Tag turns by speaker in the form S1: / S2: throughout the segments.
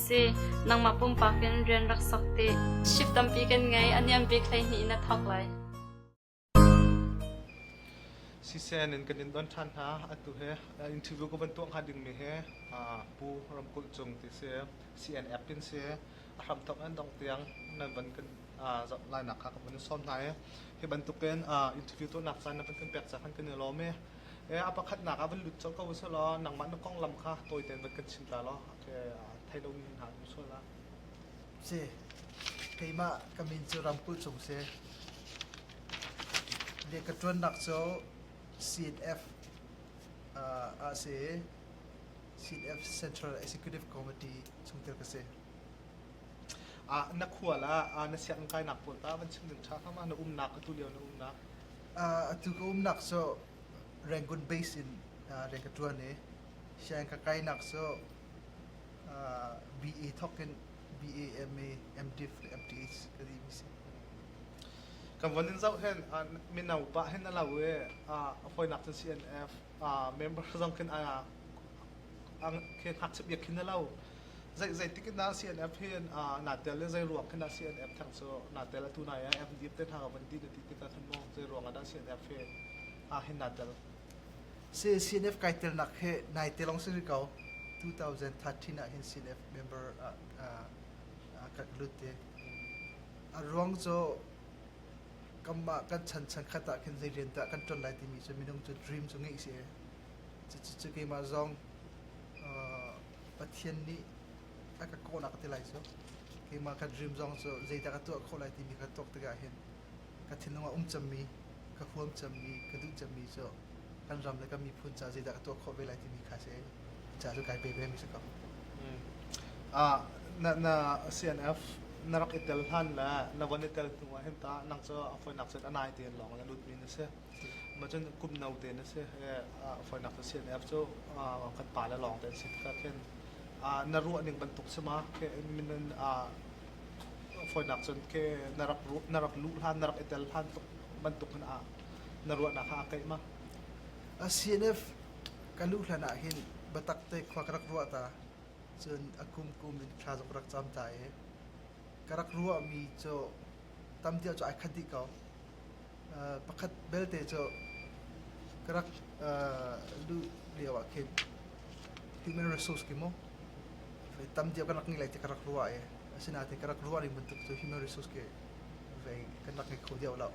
S1: si. Nangmah pumpak in rian rak sok ti. Ship tampi kan ngei. A niam bik hleihnih na thawk lai.
S2: Sisen in kan in don than hna atu he interview ko ban tuang ha ding me he pu ramkulh chung ti se CNF tin se a hram thok an dong tiang nan ban kan lai nak kha kan som hna e hi bantukin interview tu nak chan na ban kan pek cha khan kan lo me e a pakhat nak a van lut chau ko se lo nangmah na kong lam kha toy ten ban kan chinta lo thei lomi hna an um sual ah si
S3: keimah ka min cu Ramkulh Cung si le ka ṭuannak cu CNF uh, ah si CNF Central Executive Committee chungtel ka si ah na
S2: khual ah na siang kainak pawl ta van chim tha kha ma na umnak ka tu lio na umnak uh, atu ka
S3: umnak so Rangoon base in uh, reng ka tuan i Siang ka kainak cu uh, BE thok in BAM i MDiff le MDH ka ti mi si.
S2: Kan von in zoh hen uh, mino pa hen a lo i uh, hawinak cun CNF uh, member zong khin uh, khi hak chip yak khin a lo zei zei tikin da CNF hin uh, na tel le zei ruang khin da CNF thang so na tel a tu na ya MDF te na ka van ti na ti kita khin mo zei ruang da CNF he uh, hin na tel
S3: CNF kai telnak he nai te lawng si si ko 2013 ah hin CNF member ah ah kan lut te a ruang cu kanmah kan chan chan khat ah khin zei rian dah kan ṭon lai timi cu minung cu dream cu ngeih si e cucu keimah zong uh, Pathian nih a ka kawhnak te lai cu keimah kan dream zong cu zeidah ka tuah khawh lai timi kan tuak tikah hin ka thinlung a um cemmi, ka huam cemmi, ka duh cemmi cu kan ram le kan miphun caah zeidah ka tuah khawh ve lai timi kha si ca cu kai pe ve mi si ko. Ah,
S2: na na CNF na rak i tel hlan le na von i tel hnu ah hin ta nang cu a foinak cun a nai te lawng le lut mi na si. Macun kum no te na si he fawinak casian app cu kan pa le lawng te an si tikah khin na ruah ning bantuk si ma ke minun fawinak cun ke na rak luh hlan na rak i tel hlan bantuk khin na ruahnak kha aa keih ma? CNF
S3: ka luh hlan ah hin biatak te khua ka rak ruah ta cun a kum kum in thla zong ka rak cam ta i ka rak ruahmi cu tam deuh cu ai khat dih ko. pakhat belte cu ka rak luh lioah khin human resource ki mu tam dio kan rak ngei lai ti ka rak ruah i asinain ka rak ruah ning bantuk cu human resource ki vei kan rak ngei kho deuh lo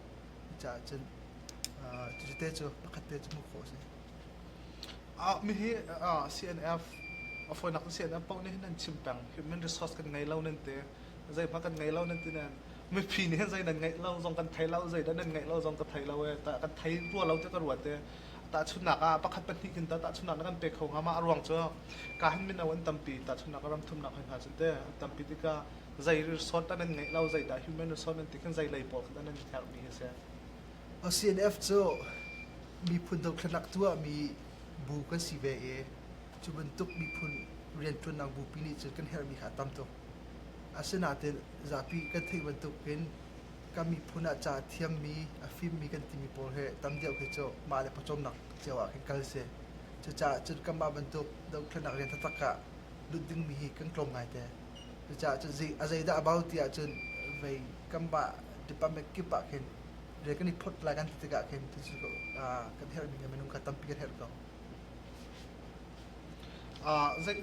S3: caah cun cucu te cu pakhat te cu hmuh khawh a si.
S2: Mihi CNF a fawinak CNF paoh nih hin an chim peng human resource kan ngei lo nan ti. zeihmah kan ngei lo nan ti nan mipi nih hin zei nan ngeih lo zong kan thei lo zei dah nan ngeih lo zong ka thei lo e ta kan thei rua lo te ka ruat e tahchunnak ah pakhat pahnih kin ta tahchunnak na kan pek kho hnga ma a ruang cu ka han min an tampi tahchunnak ram thumnak hoi hna cu te an tampi tikah zei resort an nan ngeih lo zei dah human resort nan ti khin zei lei pawl khat an nan herh mi hi si a CNF
S3: cu miphun dothlatnak tuah mi bu kan si ve i cu bantuk miphun riantuannak bupi nih cun kan herh mi kha a tam tuk Asinain zapi kan theih bantukin kan miphun ah ca a thiammi, a fimmi kan timi pawl hi tam deuh khi cu mah le pawcawmnak cio ah khin kal a si. Cucaah cun kanmah bantuk dothlonak rian taktak ah lut dingmi hi kan tlawm ngaite. Cucaah cun a zeidah a bau ti ahcun vei kanmah department kip ah khin rian kan i phawt lai kan ti tikah khin cucu kan herhmi minung kha tampi kan herh ko.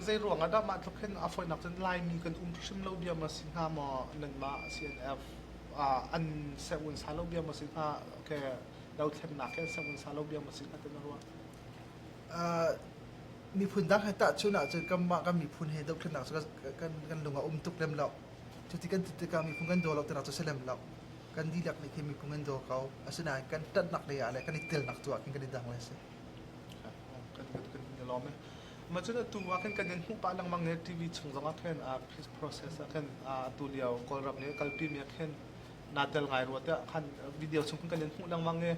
S2: Zeiruang ah dah mah tluk hin a fawinak cun Laimi kan um hrim lo diam a si hnga maw? Nangmah CNF an servun sa lo diam a si hnga, okay, dothlennak hi an servun sa lo diam a si hnga ti na ruah? Miphun dang he tahchun ahcun kanmah kan miphun he dothlennak cu
S3: kan lung a um tuk lem lo. Cuti kan ti tikah miphun kan daw lo tinak cu si lem lo. Kan dihlak nih khin miphun kan daw ko. Asinain kan ṭanhnak lei ah le kan i telnak tu ah
S2: khin kan i dang ve a si. kan in i lawm e. Mah cun atu ah khin kan in hmuh pah lengmang ne TV chung zong ah khin uh, process ah khin uh, atu lio Kawlram ne kalpimi ah khin naa tel ngai rua tiah khan video chung khin kan in hmuh lengmang e.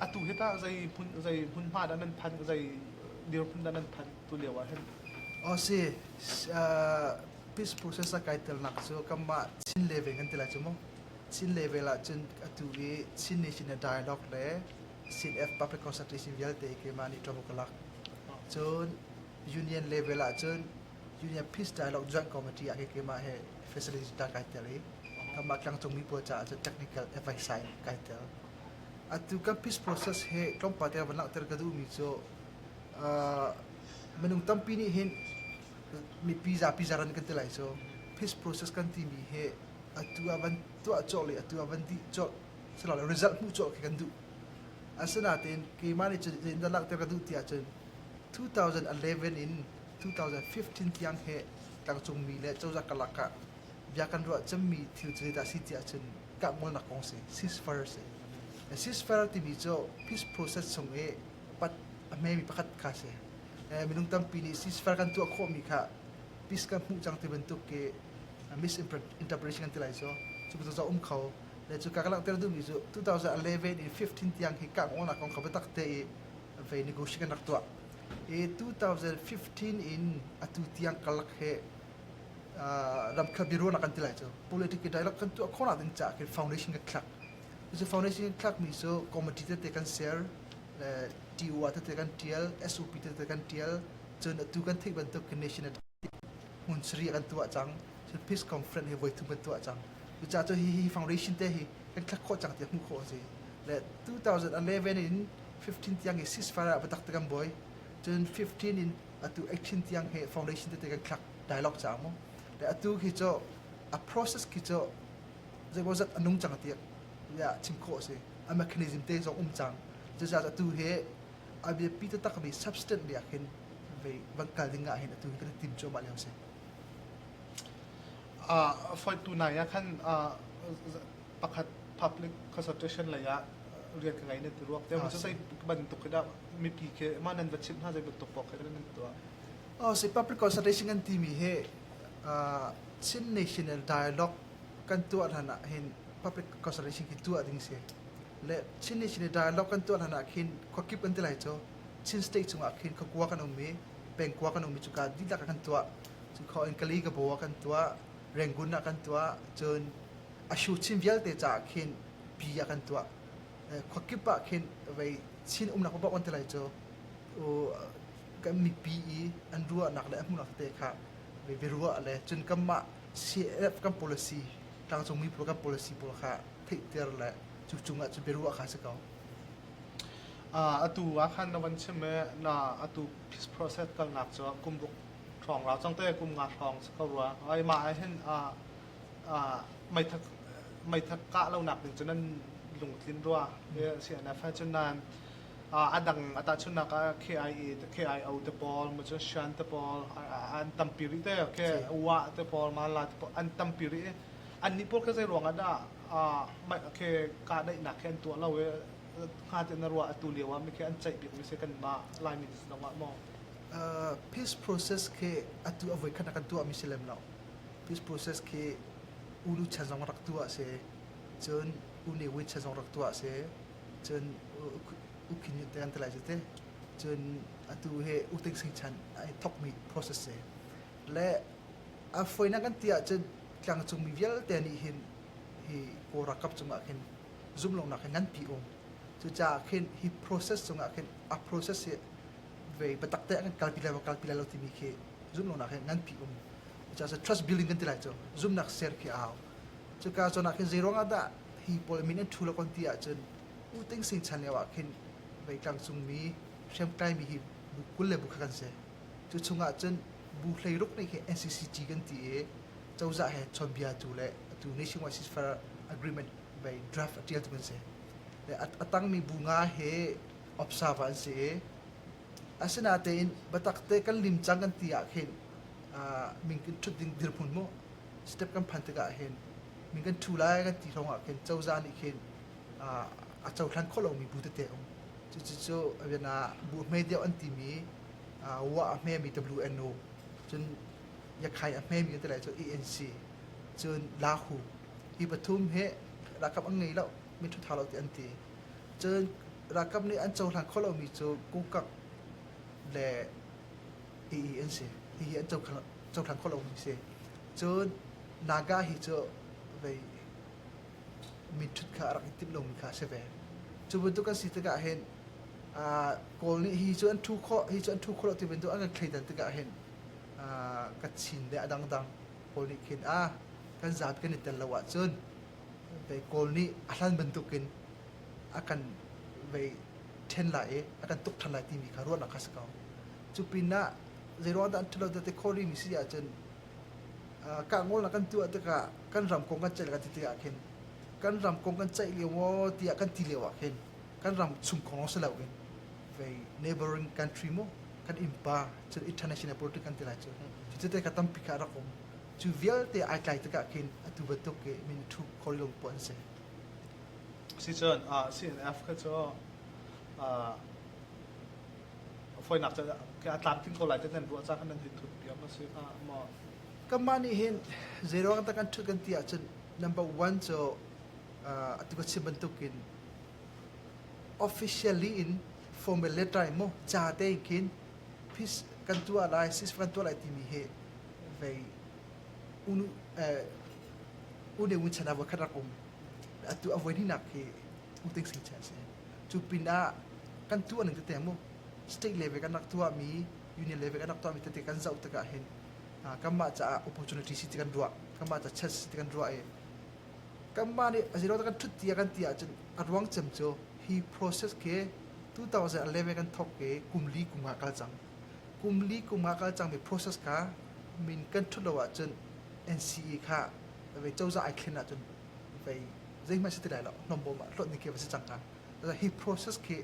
S2: Atu hi tah zei hmun zei hmun hma dah nan phan zei dir hmun dah
S3: nan phan tu lio ah hin? O si peace process a kai tel nak cu kamah Chin level an ti lai cu mu. Chin level ah cun atu hi Chin Nation dialogue le CNF Papiakosatis in vialte keimah nih ṭavo ka lak. Cun union level ah cun union peace dialogue joint committee ah keimah he facility ta kai tel i kanmah tlangcungmi pawl caah cun technical advice in kai tel. Atu kan peace process he tlawmpal te van langhter ka duhmi cu uh, minung tampi nih hin mipi zapi zaran kan ti lai cu peace process kan timi hi atu ah van tuah cawlh le atu ah van dih cawlh silo result hmuh cawk khi kan duh asinain keimah nih cun zeitindah langhter ka duh tiah cun 2011 in 2015 tiang he tlangcungmi le cozah karlak ah bia kan ruah cemmi thil cu zeidah si tiah cun kahngolnak kong si ceasefire si ceasefire timi cu peace process chung i pat a hmemi pakhat kha si minung tampi nih ceasefire kan tuah khawhmi kha peace kan hmuh cang ti bantuk i misinterpretation kan ti lai cu cu bantuk um kho le cu ka ka langhter duhmi cu 2011 i 15 tiang hi kanghawnak kong kha biatak te i vei negotiation kan rak tuah i 2015 in atu tiang kalak he ram kha biaruahnak kan ti lai cu politic i dialogue kan tuah khawhnak ding caah khin foundation kan thlak cu foundation kan thlakmi cu committee tete kan share le TUA tete kan tial SOP tete kan tial cun atu kan theih bantuk nation hmun sarih kan tuah cang. Cun peace conference hi voithum kan tuah cang. Cucaah cu hihi foundation te hi kan thlak khawh cang ti hmuh khawh a si. Le 2011 in 15 tiang i ceasefire ah biatak te kan buai. Cun 15 in atu 18 tiang he foundation te kan thlak dialogue cang mu. Le atu khi cu a process khi cu zeimawzat a nung cang tiak ya chim khawh a si. A mechanism te zong um cang. Cucaah atu he a biapi taktakmi substance nih ahhin van kal ding ahhin atu hi kan i tim cuahmah lio a si.
S2: Uh, foitu nai ah khan uh, pakhat public consultation lei ah rian ka ngei nan ti ruak te ah, sai bantuk dah mipi ke ma nan va chim hna zei bantuk pok kan nan
S3: tuah oh si public consultation kan ti mi he uh, Chin National Dialogue kan tuah ran ah hin public consultation ki tuah ding si le Chin nih Chin dialogue kan tuah hlan ah khin khuakip an ti lai cu Chin state chungah khin khakua kan um i pengkua kan um i cuka dihlak ah kan tuah cun kho in kali gabaw ah kan tuah rengun ah kan tuah cun a shu chin vialte caah khin pi ah kan tuah khuakip ah khin vei chin umnak bak an ti lai cu kan mipi i an ruahnak le an hmuhnak te kha vei ruah le cun kanmah CAF kan policy tlangcung mi pawl kan policy pawl kha theihter le cu cung ah cu biaruah kha si ko
S2: atu ah khan na van chim e na atu peace process kalnak cu kumruk hrong ra cang te kum nga hrong si ko rua ai ma ai hin a meithak meithak ka lo nak ding cun an lungtlin rua e si an fa cun nan adang ata chun nak KIE te KIO te pawl ma chun shan te pawl an tampi ri te ke wa te pawl ma la te pawl an tampi ri annih pawl kha zeiruang ah dah mah khe kahdaihnak khi an tuah lo i hnga tein a ruah atu lio ah mi khi
S3: an ceih bikmi si kanmah Lai minister zong ah maw? Uh, peace process khi atu avoi khan kan tuah mi si lem lo peace process khi ulu chan zong rak tuah se cun uni wit chan zong rak tuah se cun ukin yut te an telai jite cun atu he uting sing chan ai thok mi process se le a foinak an ti ahcun tlangcungmi vialte nih hin hi kawl ralkap cungah khin zumlonak hi nganpi um cucaah khin hi process cungah khin a process hi vei batak te an kalpi lai kalpi lai lo timi khi zumlonak hi nganpi um cucaah trust building kan ti lai cu zumnak ser khi a hau cuka zawn ah khin zeiruang ah dah hi pawl min an thu lo kon ti ahcun u ting sing chan lio ah khin vei tlangcungmi hriamtlaimi hi bu kul le bu khat kan si Cu chungah cun bu hleiruk nih hi NCCG kan ti i cozah he chawnbia tu le atu Nation Wide Ceasefire Agreement bei draft a tial tuk an si. Le a, a tangmi bu nga hi observer an si i asinatein biatak te kan lim cang kan ti ah khin uh, min kan thut ding dirhmun mu step kan phan tikah hin min kan thu lai kan ti hlawng ah khin cozah nih khin uh, a cohlan khawh lomi bu tete um. Cucu a rian ah bu hme deuh an timi wa a hmemi WNO cun yakhai a hmemi ka tilai cu ANC cun lahu hi pathum he rakam an ngei lo mi thutha lo ti an ti cun rakam nih an cohlan kho lomi cu kungkak le EE an si hihi an cohlan kho lomi si cun Naga hi cu vei mi ṭhut kha a rak i timh lomi kha a si ve. Cu bantuk an si tikah hin uh, Kawl nih hi cu an ṭhu khawh hi cu an ṭhu khawh lo ti bantuk an kan thleidan tikah hin uh, ka chin le a dangdang Kawl nih khin a kan zaat kan i tel lo ahcun kei Kawl nih a hlan bantukin a kan vei ṭhen lai i a kan tuk ṭhan lai timi kha ruahnak kha si ko. Cu pinah zeiruang dah an ṭhalo tete khawrimi si ahcun uh, kah ngolnak kan tuah tikah kan ramkong kan ceih ka ti tikah khin kan ramkong kan ceih lio maw tiah kan ti lio ah khin kan ram chung kong si loin vei neighboring country mu kan impa cu international politics kan ti lai cu cu te ka tampi ka rak um cu vialte ai tlai tikah khin atu bantuk ke min thu corridor po an si
S2: si cun ah CNF kha cu foinak ca Atlantic ko lai te nan ruah ca kan nan hin thut piam a si hnga maw Kanmah nih
S3: hin zeiruang ah dah kan ṭhut kan ti ahcun number one cu atu ka chim bantukin officially in formal letter in maw ca tein khin kan tuah lai sis kan tuah lai timi hi vei unu une un chan ah voikhat rak um atu a voinihnak khi uting sing cha a si cu pinah kan tuah ning tete maw state level kan rak tuahmi union level kan rak tuahmi tete kan zoh tikah hin kanmah caah opportunity si ti kan ruah kanmah ca chance si ti kan ruah i kanmah nih a zeiruang kan ṭhut ti a kan ti ahcun a ruang cem cu hi process khi 2011 kan thawk i kum li kum ah kal cang kum li kum ah kal cangmi process kha min kan ṭhut lo ahcun NCE kha vei cozah ai thlen ahcun vei zeihmanh si ti lai lo nombom ah hlawt ni khi va si cang hnga hi process khi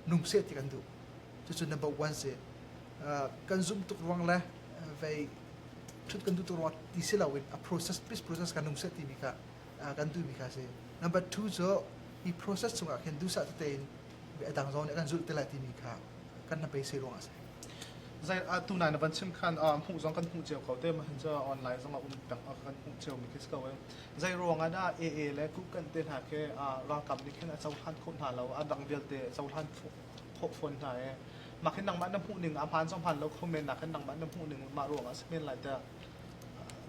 S3: nung seh ti kan duh cucu number one si kan zumh tuk ruang le vei thut kan duh tuk ruang ti si loin a process pis process kan um seh timi kha kan duhmi kha si number two cu hi process chungah khin duhsah tete in adang zong nih kan zulh te lai timi kha kan na beisei ruang a si zai a
S2: tu nai na van chim khan hmuh zong kan hmuh cio ko te ma hin cu online zong a um tang kan hmuh cio mi khi si ko zai ruang ana AA le ku kan te hna ke ralkam nih khin a cohlan kho hna lo a dang vialte cohlan thawk fawn hna i mah khin nangmah na hmuh ning a hmaan zong hmaan lo kho men nak khin nangmah na hmuh ning mah ruang ah a si men lai tah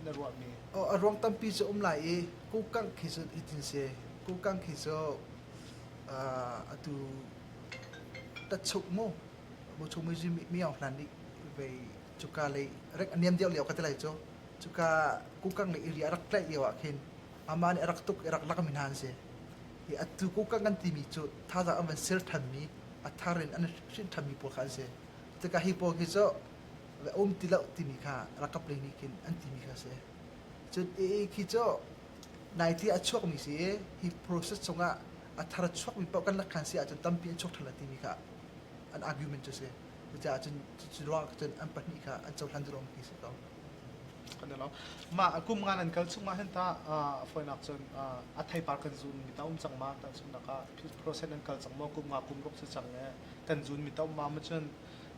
S2: na ruah mi oh, a ruang tampi cu
S3: um lai i kukangh khi cu itin se kukangh khi cu atu tatchuk mu bu chung mi mi mi au hlan nih ve cuka lei rek aniam deuh leo ka ti lai cu cuka kukang le iri a rak tlaih lio ah khin Amah nih a rak tuk i rak lakmi hna an si. I a tukukak an timi cu thazaang an van ser thanmi, a thar in an hrin thanmi pawl kha an si. Tikah hi pawl hi cu um ti lo timi kha rakap lei nih khin an timi kha a si. Cun i khi cu naiti a chuakmi si i hi process chungah a thar chuakmi paoh kan lakhan si ahcun tampi an chuak than timi kha an argument cu a si. Cucaah cun cu ruang cun an pahnih kha an cohlan lawng ti si ko. kan i
S2: lo mah a kum ngan an kal chung ma hen ta a foinak cun a theipar kan zun mi ta um cang ma ta chung nak ah process an kal cang mo kum nga kum ruk si cang e kan zun mi ta um ma ma chun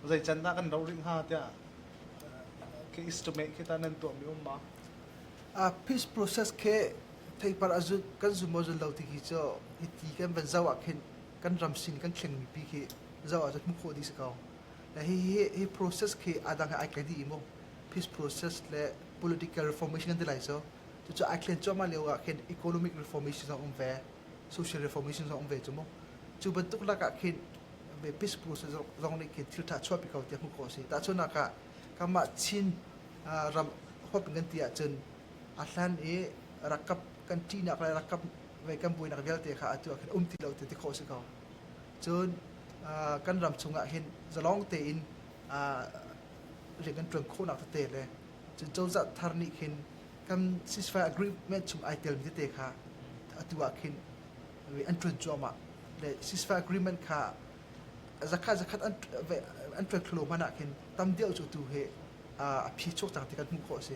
S2: zai can da kan ro ring ha tia ke is to make kita nan to mi um ma a
S3: peace process ke theipar azun kan zun mo zun lo ti ki cho iti kan ban zawa khin kan ram sin kan thleng mi pi ki zawa zut mu kho di se kau Hi process khi adang he ai kai dih i mu. Peace process le political reformation kan ti lai so. Cucu ai thlen cuahmah lio ah khin economic reformation zong um ve, social reformation zong um ve cu mu. Cu bantuk lakah khin peace process zong nih khin thil tha chuahpi ko tiah hmuh khawh a si. Tahchunak ah kanmah Chin ram huap in kan ti ahcun a hlan i rakap kan ṭihnak le rakap ve kan buainak vialte kha atu ah khin um ti lo ti ti khawh a si ko. cun kan ram chungah hin zalong tein rian kan ṭuan khawhnak tete le cun cozah thar nih khin kan ceasefire agreement chung ai telmi tete kha atu ah khin an ṭuan cuahmah le ceasefire agreement kha zakhat zakhat an ṭuan kholo hmanh ah khin tam deuh cu tu hi a phi chuak cang ti kan hmuh khawh a si.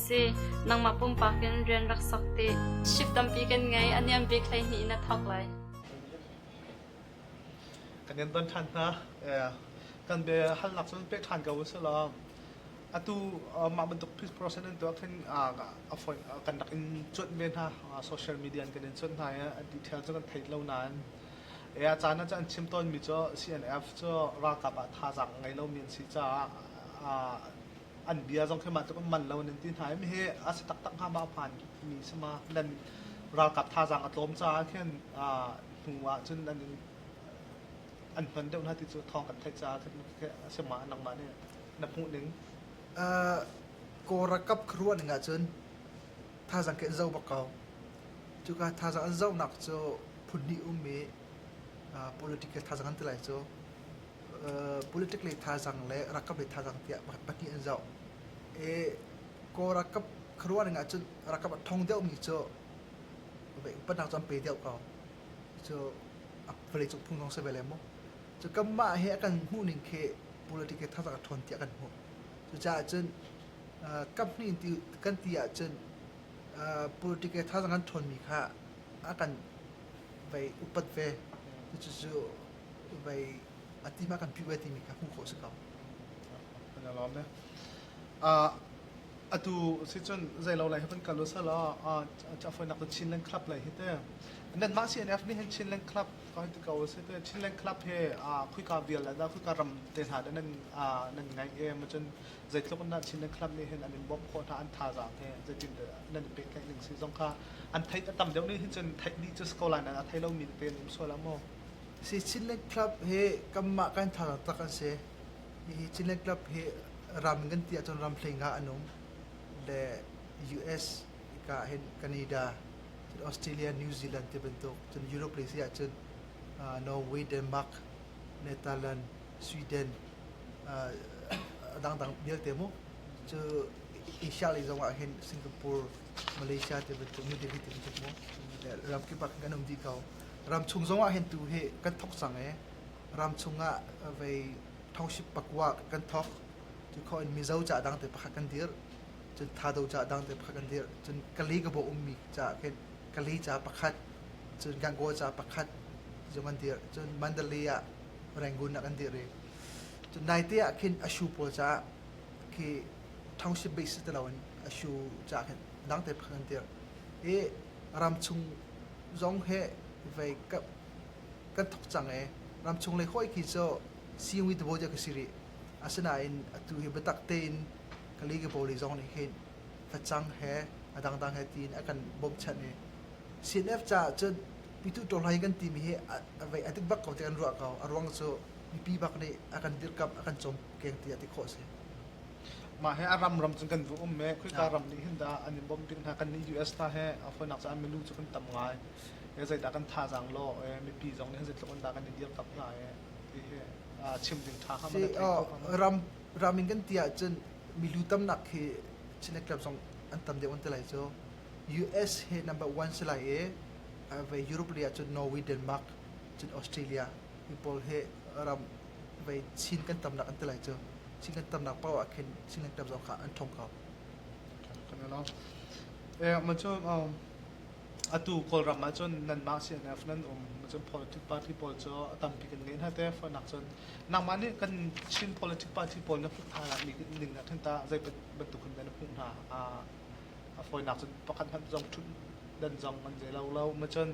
S1: si. Nangmah pumpak in rian rak sok ti. Ship tampi kan ngei. A niam bik hleihnih na thawk lai. Kan in don ṭhan hna.
S2: Kan be halnak cun pek ṭhan ko usih law. Atu mah bantuk process in tuah khin kan rak in cuanh ve hna social media kan in cuanh hna i detail cu kan thei lo nain ya caan ah an chim tawnmi cu CNF cu ralkap ah thazaang ngei lomi an si caah an bia zong khi mah tluk an man lo in an ti hna mi hi a si taktak hnga ma phan mi si ma nan ralkap thazaang a tlawm caah khin hnu ah cun an an hman deuh hna ti cu thawng kan theih caah khin a si ma nangmah nih na hmuh ning ko rakap kharuan ning ahcun
S3: thazaang ke an zo bak ko cuka thazaang an zohnak cu phun hnih um i political thazaang an ti lai cu Politic lei thazaang le ralkap lei thazaang tiah pakhat pahnih an zoh. I Kawl ralkap khuaruahning ahcun ralkap a thong deuhmi cu upatnak cu an pe deuh ko. Cu a vawleicung phung zong si ve le mu. Cu kanmah hi a kan hmuhning khi politic lei thazaang a ṭhawn tiah kan hmuh. Cucaah cun kaphnih kan ti ahcun politic lei thazaang an ṭhawnmi kha a kan upat ve. Cucu vai ati ma kan POA timi kha hmuh khawh si ko. Kan
S2: alawm ne. Uh, atu si cun zei lo lai hapan kal usal a chafoi nak Chin Land Club lai hi te nan ma CNF ni hin Chin Land Club ka hi ko si te Chin Land Club he a khui ka vial da khui ka ram te hla da nan nan ngai e ma cun zei tluk na Chin Land Club ni hin an in bom kho ta an tha za te zei tin nan pe kai ning si zong kha an thai tam deuh ni hin cun thai ni just ko la nan a thai lo mi
S3: te nim so la mo Hi Chinland Club hi kanmah kan thar taktak an si. Hihi Chinland Club hi ram in kan ti ahcun ramhleng ah an um. Le US, hika hin Canada, cun Australia, New Zealand ti bantuk, cun Europe lei si ahcun uh, Norway, Denmark, Netherlands, Sweden uh, dangdang vialte mu. Cu Asia lei zong ah hin Singapore, Malaysia ti bantuk, New Delhi ti bantuk mu. Le ramkip ah khin kan um dih ko. ramchung zongah hin tu hi kan thok cang i ramchung ah vei thoship pakua kan thok cu kho in mizo ca dang te pakhat kan dir cun thado ca dang te pakhat kan dir cun kali ka bo ummi ca kali ca pakhat cun gangaw ca pakhat zong an dir cun mandalay ah rangoon ah kan dir i cun naite ah khin ashu pawl ca khi township base si ti lo in ashu ca khin dang te pakhat kan dir i ramchung zong he vei kan thok cang i ramchung lei hawih khi cu sihni tibawi tiah ka si rih asinain atu hi biatak tein ka li kabawi lei zong nih hin facang he a dangdang he tiin a kan bawmchanh i CNF caah cun pitu ṭawlhlai kan timi hi a vei a dik bak ko ti kan ruah ko a ruang cu mipi bak nih a kan dirkamh a kan cawmkeng tiah ti khawh a si.
S2: Mah hi a ram ram cun kan va um i khawika ram nih hin dah an i bawmh ding hna kan nih US hna he a hawinak caah milu cu kan tam ngai e zeidah kan thazaang law e mipi zong nih zeitluk in dah kan i dir tak hna e ti hi aa chim ding tha kha mana thei ko
S3: ram ram in kan ti ahcun milu tamnak khi Chin club zong an tam deuh an ti lai cu US he number one si lai i ve Europe lei ahcun Norway Denmark cun Australia mi pawl he ram vei chin kan tamnak an ti lai cu chin kan tamnak paoh ah khin chin kan tam zong kha
S2: an ṭhawng ko kan along eh ma cu atu kawlram ah cun nan mah CNF nan um ma cun politic party pawl cu a tampi kan ngei hna te nak cun nangmah nih kan Chin politic party pawl na hmuh hna la mi ning na than ta zei bantuk kan na hmuh hna a fawinak cun pakhat hmanh zong ṭhut dan zong an zei lo lo ma cun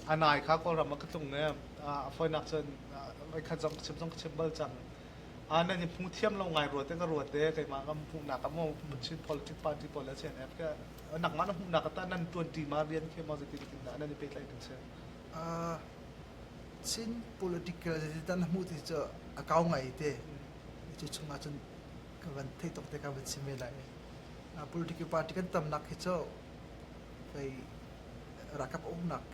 S2: a nai kha kawlram ah ka tlung ne a fawinak cun voikhat zong ka chim zong ka chim bal cang a nan hi hmu thiam lo ngai ruat te ka ruat te keimah ka hmuhnak ka mu Chin politic party pawl le CNF ka nangmah na hmuhnak ta nan tuanti ma rian khi ma zetin tin da nan i petlai ding se
S3: Chin political zetin tan hmu ti cu a kau ngai te cu chungah cun ka van thei tok te ka van chim ve lai Political party kan tamnak hi cu kei ralkap uknak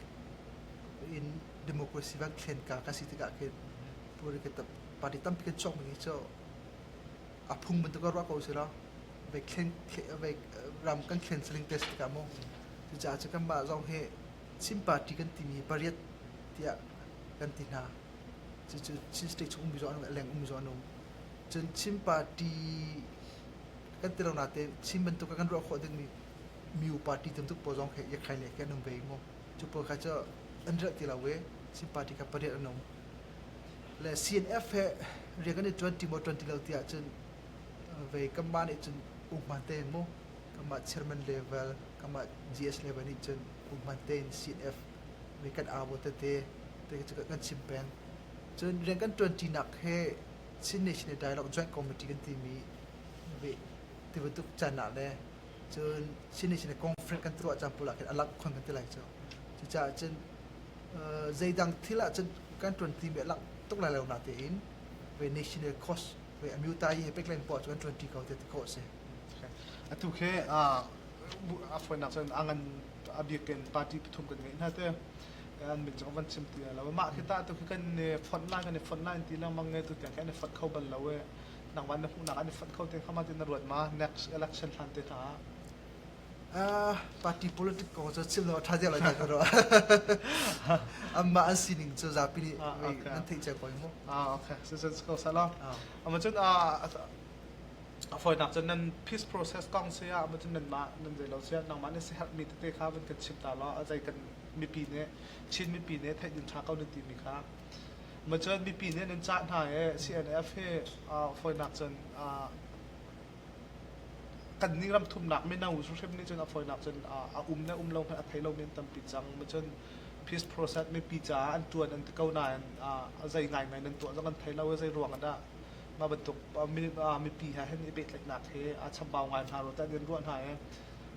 S3: in democracy van thlenka kan si tikah khin political party tampi kan chuakmi hi cu a phung bantuk a ruah ko si lo. Vei thlen vei ram kan thlen saling te si tikah maw cucaah cu kanmah zong hi Chin party kan timi hi pariat tiah kan ti hna. Cucu Chin state chung ummi zong an um, a leng ummi zong an um. Cun Chin party kan ti lo natein Chin bantuk kan ruah khawh dingmi miu party tamtuk pawl zong khi Yakhai ne khi an um ve i mu cu pawl kha cu an relh ti lo i Chin party kha pariat an um le CNF he rian kan i ṭuanṭi maw ṭuanṭi lo tiah cun vei kanmah nih cun ukman tein mu kanmah chairman level kanmah GS level nih cun ukman tein CNF vei kan au tete te kan chim peng cun rian kan ṭuanṭinak he Chin Nation Dialogue Joint Committee kan timi ti bantuk can ah le cun Chin Nation le conflict kan tuah caan pul ah khin a langh khon kan ti lai cu. Cucaah cun zeidang thil ah cun kan ṭuanṭi mi a langh tuk lai lo na tein ve national cause ve a miutai he pek len puah cu kan ṭuanṭi ko tiah ti khawh a si. Okay. Atu
S2: khi a fawinak cun a ngan a bik in party pathum kan ngeih hna te an min cu van chim ti lo mah khi ta tu khi kan fonh lai kan i fonh lai ti lengmang ne tu tiang kan i fonh kho bal lo e nang van na hmuhnak an i fonh kho te kha ma tin na ruat ma next election hlan te hna
S3: party politic ko cu chim lo tha dia lo ka ro amma an sining cu zapi nih an theih che koi mu ah okay so so
S2: ko sala amma cun A fawinak cun nan peace process kong si ah cun nanmah nan zei lo siah nangmah nih siherhmi tete kha van kan chim ta law a zei kan mipi nih Chin mipi nih theih nan ṭha ko nan timi kha ma cun mipi nih nan cah hna i CNF hi fawinak cun kan ni ram thumnak mino hrim nih cun a fawinak cun a um ne um lo hmanh a thei lo men tampi cang ma cun peace process mipi caah an ṭuan an ti ko nain a zei ngaingai nan tuah zong an thei lo i zei ruang dah mah bantuk mipi hna hin i pehtlaihnak hi a chambau ngai hna ro tah nan ruah hna i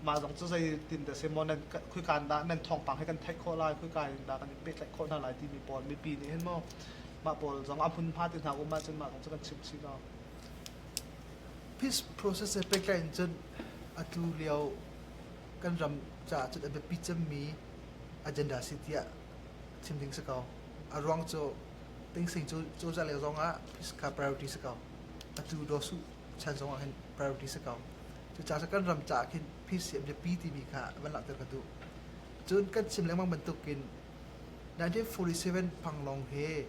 S2: mah zong cu zeitin dah si maw nan khuika in dah nan thawngpang hi kan theih khawh lai khuika in dah kan i pehtlaih khawh hna lai timi pawl mipi nih hin
S3: maw mah pawl zong a hmunhma ti hna um ahcun mah zong cu kan chim chih no peace process he pehtlaih in cun atu lio kan ram caah cun a biapi cemmi agenda si tiah chim ding si ko a ruang cu Tingsing cozah lio zong ah phiska priority si ko. Atu Daw Suh chan zong ah khin priority si ko. Cucaah sa kan ram caah khin PCM biapi timi kha van langhter ka duh. Cun kan chim lengmang bantukin 1947 Panglong he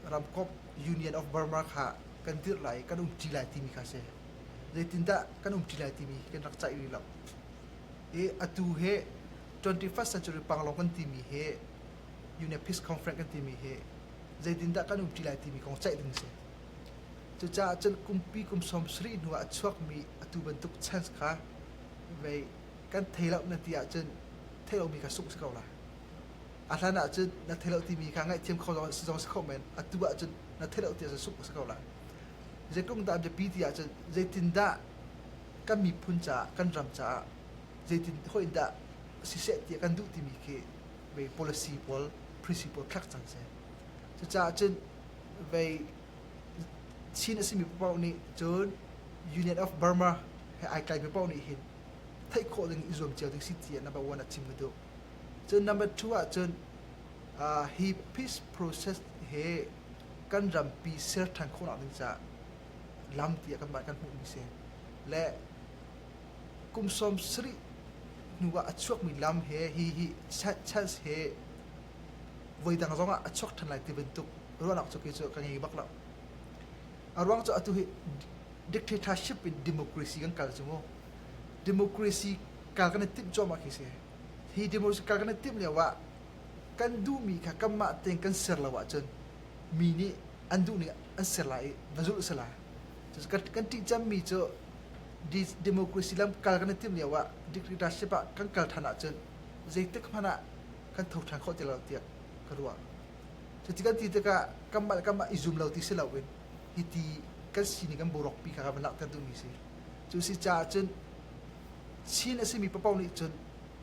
S3: ramkop Union of Burma kha kan dirh lai kan um ṭi lai timi kha si. Zeitindah kan um ṭi lai timi kan rak caih rih lo. I atu he 21st century Panglong kan timi he UNEPIS conference kan timi hi zeitindah kan umṭi lai timi kong ceih ding a si. Cucaah cun kumpi kum sawm sarih hnu ah a chuakmi atu bantuk chance kha vei kan thei loh na ti ahcun thei lomi kha sungh si ko la. A hlan ahcun na thei loh timi kha ngaihthiam kho zong si zong si kho men atu ahcun na thei loh ti ahcun sungh si ko la. Zeitlung dah biapi ti ahcun zeitindah kan miphun caah kan ram caah zeitin hoin dah siseh ti kan duh timi khi vei policy pawl principle thlak cang seh cucaah cun vei chin asimi paoh nih cun Union of Burma he ai kai mi paoh nih hin theih khawh ding i zuam cio ding si ti number one a chim ka duh cun number two ah cun uh, hi peace process he kan rampi ser than khawhnak ding ca lam ti kan kan hmuh mi se le kum sawm sarih hnuah a chuakmi lam he hi hi Chels he voidang zongah a chuak ṭhan lai ti bantuk ruahnak cu kei cu ka ngei bak lo. A ruang cu atu hi dictatorship in democracy kan kal cu mu. Democracy kal kan i timh cuahmah khi si. Hi democracy kal kan i timh lio ah kan duhmi kha kanmah tein kan ser lo ahcun mi nih an duhning an ser lai i va zulh sala. Cucu kan ṭih cemmi cu democracy lamkal kan i timh lio ah dictatorship ah kan kal ṭhan ahcun zeitik hmanh ah kan tho ṭhan khawh ti lo tiah ka ruah. Cuti kan ti tikah kanmah le kanmah i zum lo ti si loin hiti kan sining kan borokpi kha kan langhter duhmi si. Cu si caah cun Chin a simi paoh nih cun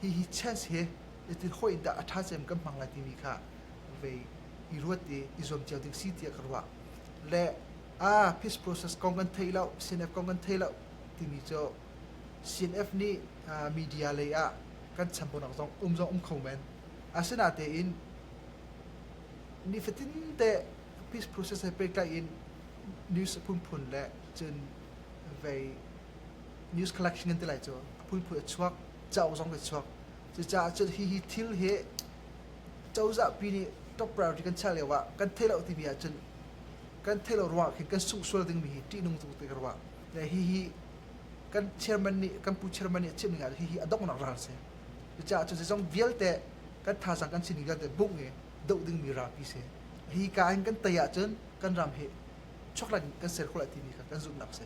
S3: hihi chance hi zeitin hawh in dah a ṭha cem kan hmang lai timi kha vei i ruat i i zuam cio ding si tiah ka ruah. Le ah peace process kong kan theih loh, CNF kong kan theih loh timi cu CNF nih media lei ah kan chan ponak zong um zong um kho men. Asinatein nifatinte peace process he pehtlai in news a phunphun le cun vei news collection ngan ti lai cu a phunphun a chuak, cauk zong a chuak. Cucaah cun hi hi thil hi cozah pi nih top priority kan chiah lio ah kan theih loh timi ahcun kan theih lo ruang ah khin kan sungh sual dingmi hi ṭihnung tuk te ka ruah. Hihi kan chairman nih kan pu chairman nih a chimh ning ah hihi a donghnak ral a si. Cucaah cu zeizong vialte kan thazaang kan sining vialte bungh i doh dingmi rapi si. Hi ka in kan tei ahcun kan ram hi
S2: chuakran in kan ser khawh lai timi kha kan zumhnak si.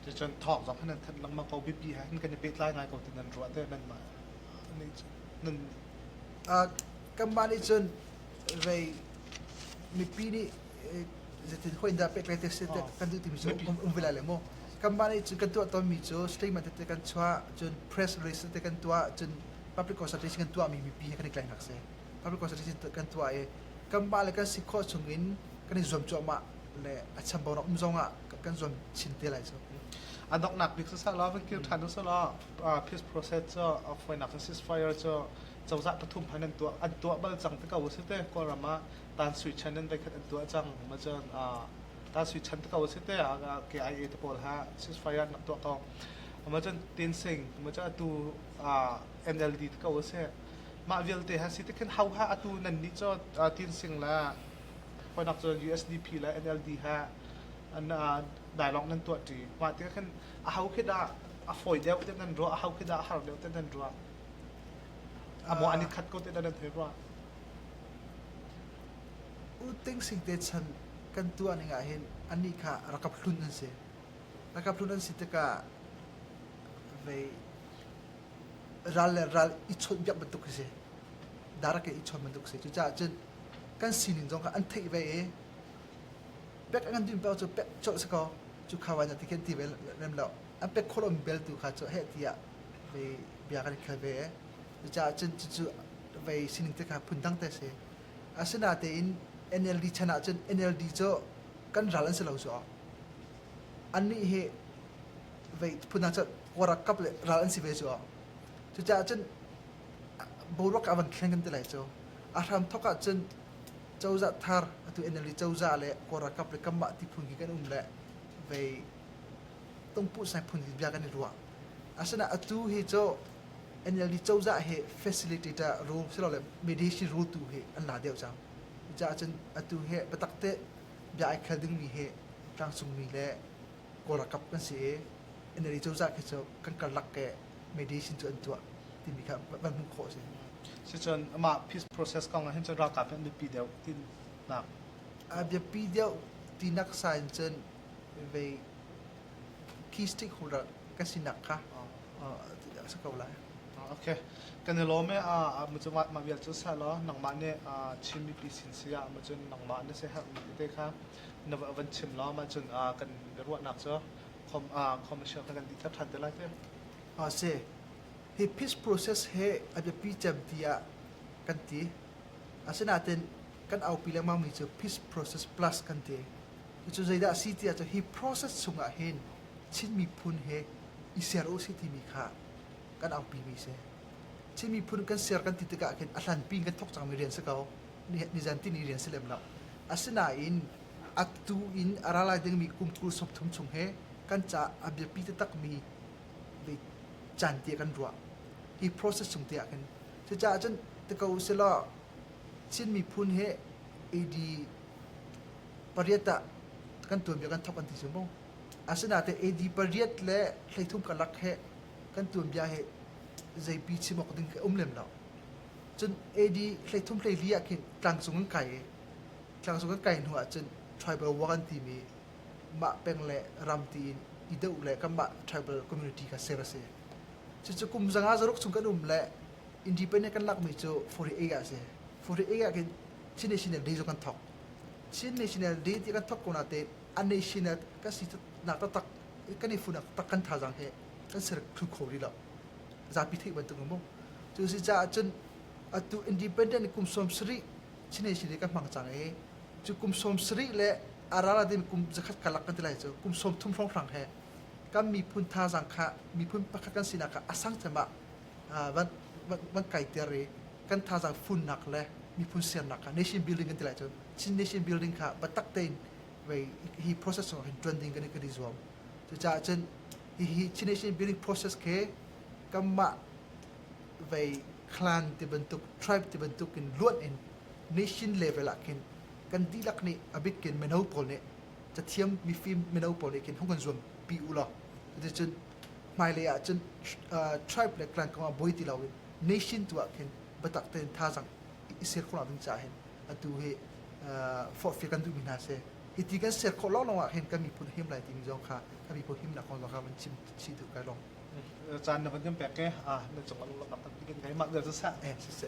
S2: Ticun thawk zong nan thanh lengmang ko biapi he kan i pehtlai ngai ko ti nan ruah te nan mah nan nan kanmah nih cun
S3: rei mipi nih zetin hoi dah pek le te se kan duh timi cu um ve lai le mu kanmah nih cun kan tuah tawnmi cu statement tete kan chuah cun press release tete kan tuah cun public consultation kan tuahmi mipi he kan i tlainak si public consultation kan tuah i kanmah le kan si khawh chung in kan i zuam cuahmah le a chambau rak um zong ah kan zuam chin te lai cu
S2: a donghnak bik sasa la van kir ṭhan usala peace process cu a foinak ceasefire cu cozah pathum han an tuah an tuah bal cang te ko a si te Kawlram ah Tan Sui Chan an voikhat an tuah cang ma cun Tan Sui Chan te ko a si te ah KIA te pawl ha ceasefire an rak tuah ko ma cun Tin Sing ma cun atu NLD te ko a si mah vialte ha si te khin hau ha atu nan nih cu Tin Sing la honak cu USDP la NLD ha an dialogue nan tuah ṭi mah te khin a hau khi dah a fawi deuh te nan ruah a hau khi dah a har deuh te nan ruah Amawh an i khat ko teh dah nan hei ruah? U Ting Sing te chan kan tuahning ahhin anih kha rakap hlun an si.
S3: Rakap hlun an si tikah vei ral le ral i chawnhbiak bantuk a si. Darak in i chawn bantuk a si. Cucaah cun kan sining zong kha an theih ve i pek an kan duhmi paoh cu pek colh a si ko. Cu kha vai na ti khi an ti ve lem lo. An pek khawh lomi bel tu kha cu heh tiah vei bia kan khal ve. Cucaah cun cucu vei sining te kha phundang te a si. Asinatein NLD chan ahcun NLD cu kan ral an si lo cu. Annih hi vei phundang cu kawrakkap le ral an si ve cu. Cucaah cun boruak a van thleng kan ti lai cu. A hram thok ahcun cozah thar atu NLD cozah le kawrakkap le kanmah ti phun khi kan um le vei tungpuh sai phun bia kan i ruah. Asinain atu hi cu NLD cozah hi facilitator ru silole medicine rutu hi an la deuh cang. Cucaah cun atu hi biatak te bia ai khel dingmi hi tlangcungmi le Kawl ralkap kan si i NLD cozah khi cu kan karlak i medicine cu an tuah timi kha van hmuh khawh a si. Sicun
S2: amah peace process kong ah hin cun ralkap hi an biapi deuh tinak. A biapi
S3: deuh tinak sa in cun vei key stick holder kan sinak kha a si ko lai. Okay. Kan i lawm e a mu cungah ma vial cu sa law
S2: nangmah nih Chin mipi sin si ah mu cun nangmah na si herh mi te kha na va van chim law ma cun kan ruahnak cu khom
S3: khom a siang kha kan ti thar ṭhan te lai te. A si. Hi peace process he a biapi cem ti ah kan ti. Asinain kan aupi lengmang mi cu peace process plus kan ti. Cucu zeidah a si tiah cu hi process chungah hin Chin miphun he i ser u si timi kha kan auhpimi a si. Chin miphun kan ser kan ti tikah khin a hlanpi in kan thawk cangmi rian si ko. Nizantin i rian si lem lo. Asinain atu in a ra lai dingmi kum kul sawmthum chung he kan caah a biapi taktakmi caanti kan ruah. Hi process chung te ah khin. Cucaah cun ti ko selaw Chin miphun he AD pariat ah kan tuanbia kan thok an ti sim bong asinate AD pariat le thleithum kalak he kan tuanbia he zeipi chim awk ding ke um lem lo cun AD thleithum hleili ah khin tlangcung in kai i tlangcung kan kai hnu ah cun tribal war an timi mah peng le ram ti in i deuh le kan mah tribal community kha ser a si cucu kum zanga zaruk chung kan um le independent kan lakmi cu 48 a si 48 ah khin Chin National Day cu kan thawk. Chin National Day ti kan thawk ko natein a national kan si nak taktak kan i funak tak kan thazaang he kan ser thlu kho rih lo. Zapi theih bantuk mu. Cu si caah cun atu independent kum sawm sarih Chin National Day kan hmang cang i cu kum sawm sarih le a rana din kum zakhat ka lak kan ti lai cu kum sawm thum hrawnghrang he kan miphun thazaang kha miphun pakhat kan sinak kha a sang cem ah van kaiter i kan thazaang funnak le miphun sernak kha nation building kan ti lai cun Chin nation building kha biatak tein hi process sung hin ṭuan ding kan i kan i zuam cucaah cun hihi Chin nation building process khi kanmah vei clan ti bantuk tribe ti bantuk in luan in nation level ah khin kan dihlak nih abik kin mino pawl nih cathiam mifim mino pawl nih khin hung kan zuam pi u law cuticun hmailei ah cun tribe le clan kong ah boi ti lo in nation tu ah khin biatak tein thazang i ser khawh ding caah hin atu hi forhfial kan duhmi hna si hi ti kan ser khawh lawnglawng ah hin kan miphun him lai timi zong kha kan miphun himnak kong zong kha van chim
S2: chih duh kai lawng caan na van kan pek ke na cung lak tak tikin kai
S3: mak der sa sa eh sa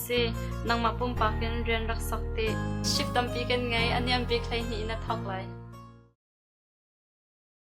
S1: si. Nangmah pumpak in rian rak sak ti. Ship tampi kan ngei, a niam bik hleihnih in a thawk lai.